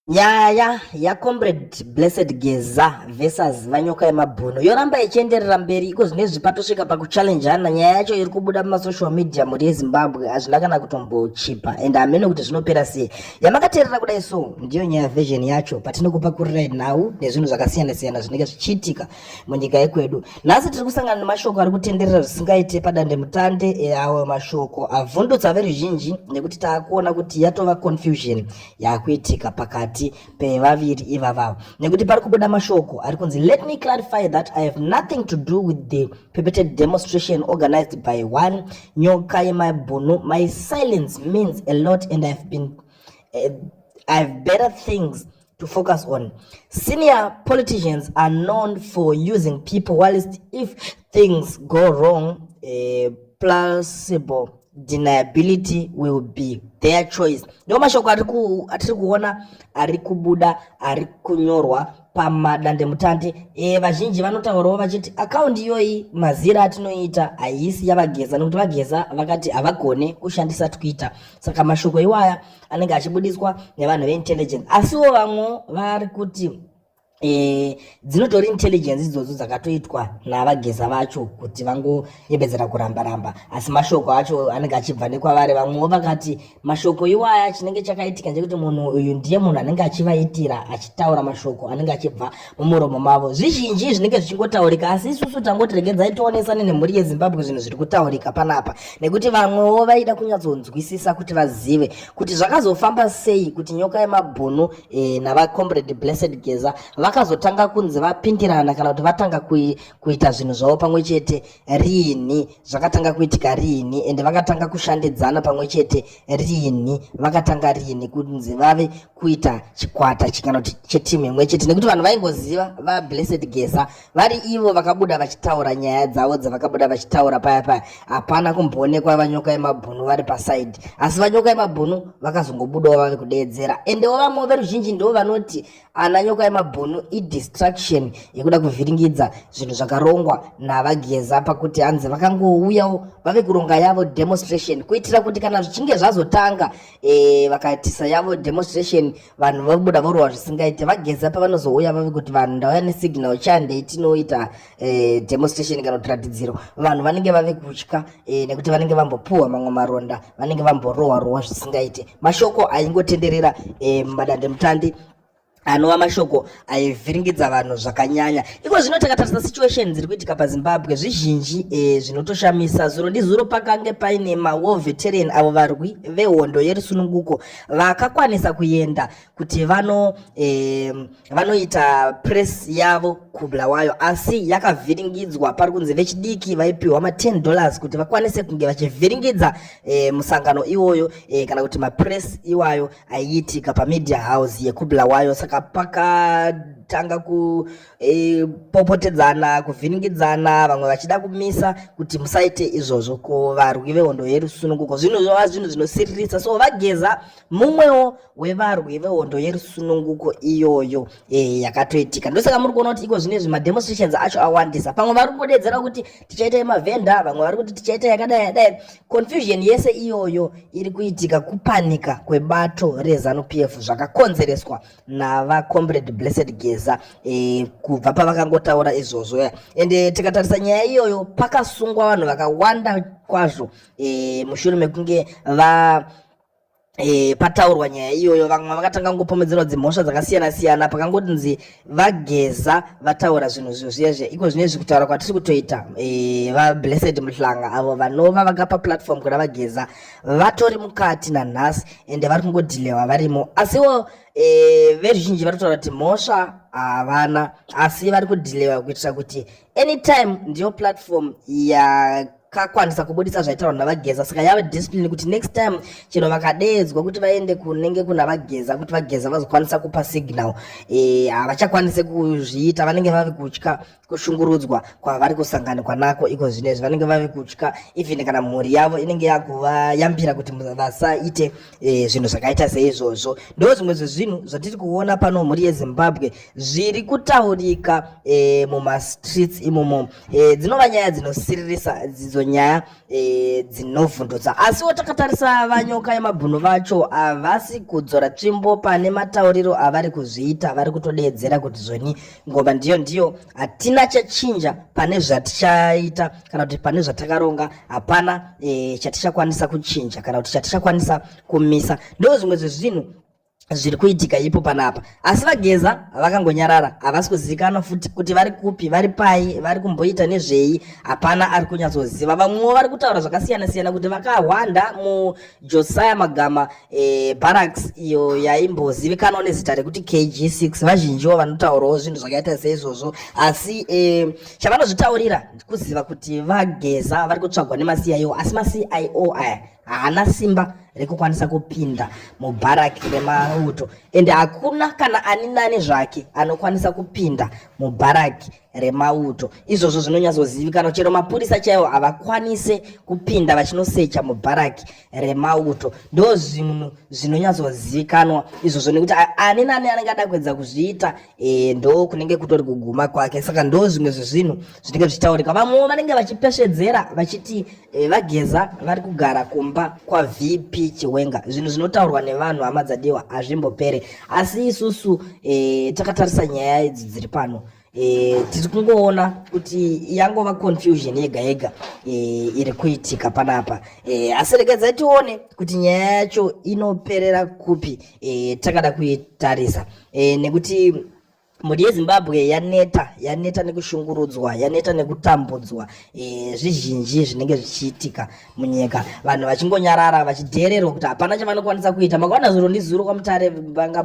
Nyaya yaComrade Blessed Geza versus Vanyoka Yemabhuno yoramba ichienderera mberi iko zvinezvi patosvika pakuchallenjana. Nyaya yacho iri kubuda mumasocial media mhuri yeZimbabwe hazvina kana kutombochipa and hameno kuti zvinopera sei. Yamakateerera kudai so ndiyo nyaya version yacho patinokupakurirai nhau nezvinhu zvakasiyana siyana zvinenge zvichiitika munyika yekwedu. Nhasi tiri kusangana nemashoko ari kutenderera zvisingaite padandemutande eawo mashoko avhundutsa veruzhinji nekuti taakuona kuti yatova confusion yakuitika pakati pevaviri ivavavo nekuti pari kubuda mashoko ari kunzi let me clarify that i have nothing to do with the perpetrated demonstration organized by one nyoka yemaibhunu my silence means a lot and ihave been uh, eh, ihave better things to focus on senior politicians are known for using people whilst if things go wrong uh, eh, plausible deniability will be their choice ndiwo mashoko atiri kuona ari kubuda ari kunyorwa pamadandemutande e, vazhinji vanotaurawo vachiti akaundi iyoyi mazira atinoita haisi yavageza nekuti vageza vakati havagone kushandisa twitter saka mashoko iwaya anenge achibudiswa nevanhu veintelligence asiwo vamwe vari kuti e, dzinotori intelligence idzodzo dzakatoitwa navageza vacho kuti vangoyembedzera kuramba ramba asi mashoko acho anenge achibva nekwavari vamwewo vakati mashoko iwaya chinenge chakaitika ndechekuti munhu uyu ndiye munhu anenge achivaitira achitaura mashoko anenge achibva mumuromo mavo zvizhinji zvinenge zvichingotaurika asi isusu tangoti regedzai tionesane nemhuri yezimbabwe zvinhu zviri kutaurika panapa nekuti vamwewo vaida kunyatsonzwisisa kuti vazive kuti zvakazofamba sei kuti nyoka yemabhunu e, navacomrade blessed geza vakazotanga kunzi vapindirana kana kuti vatanga kui, kuita zvinhu zvavo pamwe chete riini zvakatanga kuitika riini ende vakatanga kushandidzana pamwe chete riini vakatanga riini kunzi vave kuita chikwata kana kuti chetimu imwe chete nekuti vanhu vaingoziva vablessed geza vari ivo vakabuda vachitaura nyaya dzavo dzavakabuda vachitaura paya paya hapana kumboonekwa vanyoka yemabhunu vari pasaidi asi vanyoka yemabhunu vakazongobudawo vave kudeedzera endewo vamwe veruzhinji ndivo vanoti ana nyoka yemabhunu idistraction yekuda kuvhiringidza zvinhu zvakarongwa navageza pakuti hanzi vakangouyawo vave kuronga yavo demonstration kuitira kuti kana zvichinge zvazotanga e, eh, vakaitisa yavo demonstration vanhu vobuda vorova zvisingaite vageza pavanozouya vave kuti vanhu ndauya nesignal chandei tinoita eh, demonstration kana kuti ratidziro vanhu vanenge vave kutya eh, nekuti vanenge vambopuhwa mamwe maronda vanenge vamborohwa rohwa zvisingaite mashoko aingotenderera eh, mumadandemutandi anova mashoko aivhiringidza vanhu zvakanyanya iko zvino takatarisa situation dziri kuitika pazimbabwe zvizhinji e, zvinotoshamisa zuro ndizuro pakange paine mawo veteran avo varwi vehondo yerusununguko vakakwanisa kuenda kuti vano eh, vanoita press yavo kubulawayo asi yakavhiringidzwa pari kunzi vechidiki vaipiwa ma 10 dollars kuti vakwanise kunge vachivhiringidza eh, musangano iwoyo eh, kana kuti mapress iwayo aiitika pamedia house yekubulawayo saka pakatanga ku e, popotedzana kuvhiringidzana vamwe vachida kumisa kuti musaite izvozvo ko varwi vehondo yerusununguko zvinhu zvova zvinhu zvinosiririsa so vageza mumwewo wevarwi vehondo yerusununguko iyoyo e, yakatoitika ndosaka muri kuona kuti iko zvino izvi mademonstrations acho awandisa pamwe vari kungodedzera kuti tichaita yemavhenda vamwe vari kuti tichaita yakadai yadai confusion yese iyoyo iri kuitika kupanika kwebato rezanu p f zvakakonzereswa navacomrade blessed geza e, kubva pavakangotaura izvozvo ya ende tikatarisa nyaya iyoyo pakasungwa vanhu vakawanda kwazvo e, mushure mekunge va E, pataurwa nyaya iyoyo vamwe vakatanga kungopomedzerwa dzimhosva dzakasiyana siyana pakangotinzi vageza vataura zvinhu zvo zviya zviya iko zvine zvi kutaura kwatiri kutoita e, vablessed muhlanga avo vanova vakapa platform kuna vageza vatori mukati nanhasi ende vari kungodhilewa varimo asiwo e, veruzhinji vanotaura kuti mhosva havana asi vari kudhilewa kuitira kuti anytime ndiyo platform ya kakwanisa kubudisa zvaitaurwa navageza saka yave discipline kuti next time chero vakadeedzwa kuti vaende kunenge kuna vageza kuti vageza vazokwanisa kupa signal eh, havachakwanise kuzviita vanenge vave kutya kushungurudzwa kwavari kusanganikwa nako iko zvino izvi vanenge vave kutya even kana mhuri yavo inenge yakuvayambira kuti vasaite e, zvinhu zvakaita seizvozvo ndo zvimwe zvezvinhu zvatiri kuona pano mhuri yezimbabwe zviri kutaurika e, mumastreets imomo e, dzinova nyaya dzinosiririsa dzidzo nyaya e, dzinovhundutsa asiwo takatarisa vanyoka yemabhunu vacho havasi kudzora tsvimbo pane matauriro avari kuzviita vari kutodeedzera kuti zvoni ngoma ndiyo ndiyo hatina chachinja pane zvatichaita kana kuti pane zvatakaronga hapana e, chatichakwanisa kuchinja kana kuti chatichakwanisa kumisa ndo zvimwe zvezvinhu zviri kuitika ipo panapa asi vageza vakangonyarara havasi kuzivikanwa futi kuti vari kupi vari pai vari kumboita nezvei hapana ari kunyatsoziva vamwewo vari kutaura zvakasiyana siyana kuti vakahwanda mujosiah magama e, barracks iyo yaimbozivikanwa nezita rekuti kg6 vazhinjiwo vanotaurawo zvinhu zvakaita seizvozvo asi e, chavanozvitaurira ndikuziva kuti vageza vari kutsvagwa nemasiyaio asi masiio aya haana simba rekukwanisa kupinda mubharaki remauto ende hakuna kana ani nani zvake anokwanisa kupinda mubharaki remauto izvozvo zvinonyatsozivikanwa chero mapurisa chaiwo havakwanise kupinda vachinosecha mubharaki remauto ndo zvinhu zvinonyatsozivikanwa izvozvo nekuti ani nani anenge ada kuedza kuzviita e, ndo kunenge kutori kuguma kwake saka ndo zvimwe zvezvinhu zvinenge zvichitaurika vamwewo vanenge vachipesvedzera vachiti e, vageza vari kugara kumba kwavp chiwenga zvinhu zvinotaurwa nevanhu hama dzadiwa hazvimbopere asi isusu e, takatarisa nyaya idzi dziri pano e, tiri kungoona kuti yangova confusion yega yega e, iri kuitika panapa e, asi rekedza tione kuti nyaya yacho inoperera kupi e, takada kuitarisa e, nekuti mhuri yezimbabwe yaneta yaneta nekushungurudzwa yaneta nekutambudzwa e, zvizhinji zvinenge zvichiitika munyika vanhu vachingonyarara vachidheererwa kuti hapana chavanokwanisa kuita makaona zuro ndizuro kwamutare panga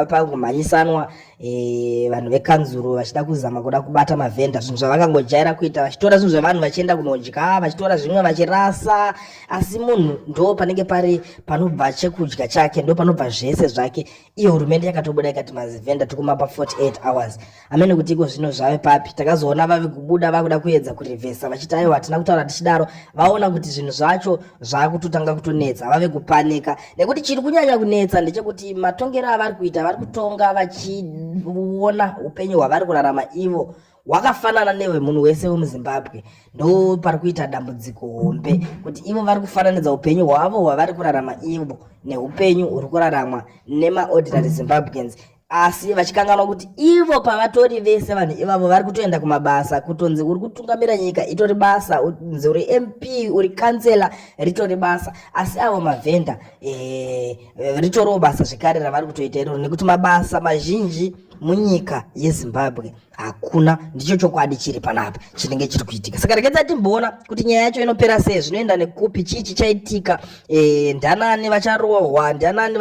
pangomhanyisanwa e, vanhu vekanzuru vachida kuzama kuda kubata mavhenda zvinhu zvavangangojaira kuita vachitora zvinhu zvevanhu vachienda kunodya vachitora zvimwe vachirasa asi munhu ndo panenge pari panobva chekudya chake ndo panobva zvese zvake iyo hurumende yakatobuda ikati mazivhenda tikumapa 48 hours amene kuti iko zvino zvave papi takazoona vave kubuda vakuda kuedza kurevhesa vachiti aiwa hatina kutaura tichidaro vaona kuti zvinhu zvacho zvakutotanga kutonetsa vave kupanika nekuti chiri kunyanya kunetsa ndechekuti matongero avari kuita vari kutonga vachiona upenyu hwavari kurarama ivo hwakafanana newemunhu wese wemuzimbabwe ndo pari kuita dambudziko hombe kuti ivo vari kufananidza upenyu hwavo hwavari kurarama ivo neupenyu huri kuraramwa nemaordinary zimbabweans asi vachikanganwa kuti ivo pavatori vese vanhu ivavo vari kutoenda kumabasa kutonzi uri kutungamira nyika itori basa unzi uri mp uri kansela ritori basa asi avo mavhenda eh, ritoriwo basa zvekare ravari kutoita iroro nekuti mabasa mazhinji munyika yezimbabwe hakuna ndicho chokwadi chiri panapa chinenge chiri kuitika saka rekedza timboona kuti nyaya yacho inopera sei zvinoenda nekupi chii chichaitika e, ndanani vacharohwa ndanani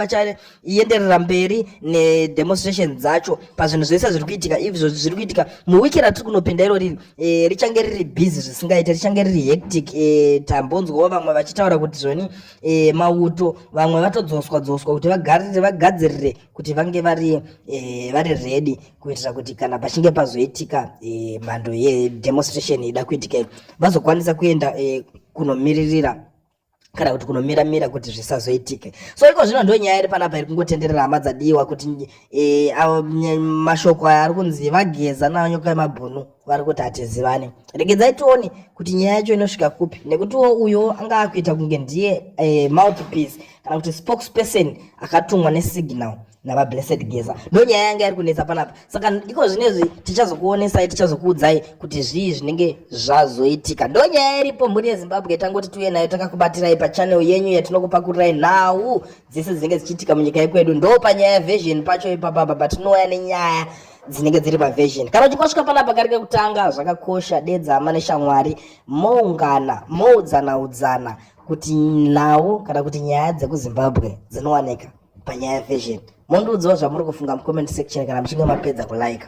ienderera mberi nedemonstration dzacho pazvinhu zvese zviri kuitika izvo zviri kuitika muwiki ratiri kunopinda iro riri e, richange riri busy zvisingaite richange riri hectic e, tambonzwawo vamwe vachitaura kuti zvoni e, mauto vamwe vatodzoswa dzoswa kuti vagarire vagadzirire kuti vange vari e, vari ready kuitira kuti kana pachinge pazoitika e, mhando yedemonstration ida kuitika vazokwanisa kuenda e, kunomiririra kana kuti kunomira mira kuti zvisazoitike so iko zvino ndo nyaya iri panapa iri kungotenderera hama dzadiwa kuti e, mashoko aya ari kunzi vageza nawo nyoka yemabhunu vari kuti hatizivane regedzai tione kuti nyaya yacho inosvika kupi nekuti wo uyo anga akuita kunge ndiye e, mouthpiece kana kuti spokesperson akatumwa nesignal nava blessed geza ndonyaya yanga yari kunetsa panapa saka iko zvinezvi tichazokuonesai tichazokuudzai kuti zvii zvinenge zvazoitika ndonyaya iripo mhuri yezimbabwe tangoti tiuye nayo takakubatirai pachanel yenyu yatinokupakurai nhau dzese dzinenge dzichiitika munyika yekwedu ndo panyaya version pacho ipapapa patinouya nenyaya dzinenge dziri paversion kana uchikosvika panapa kari kekutanga zvakakosha dedza amane shamwari moungana moudzana udzana kuti nhau kana kuti nyaya dzekuzimbabwe dzinowanika panyaya yefashion mondiudzawo zvamuri kufunga mucomment section kana muchinge mapedza kulaika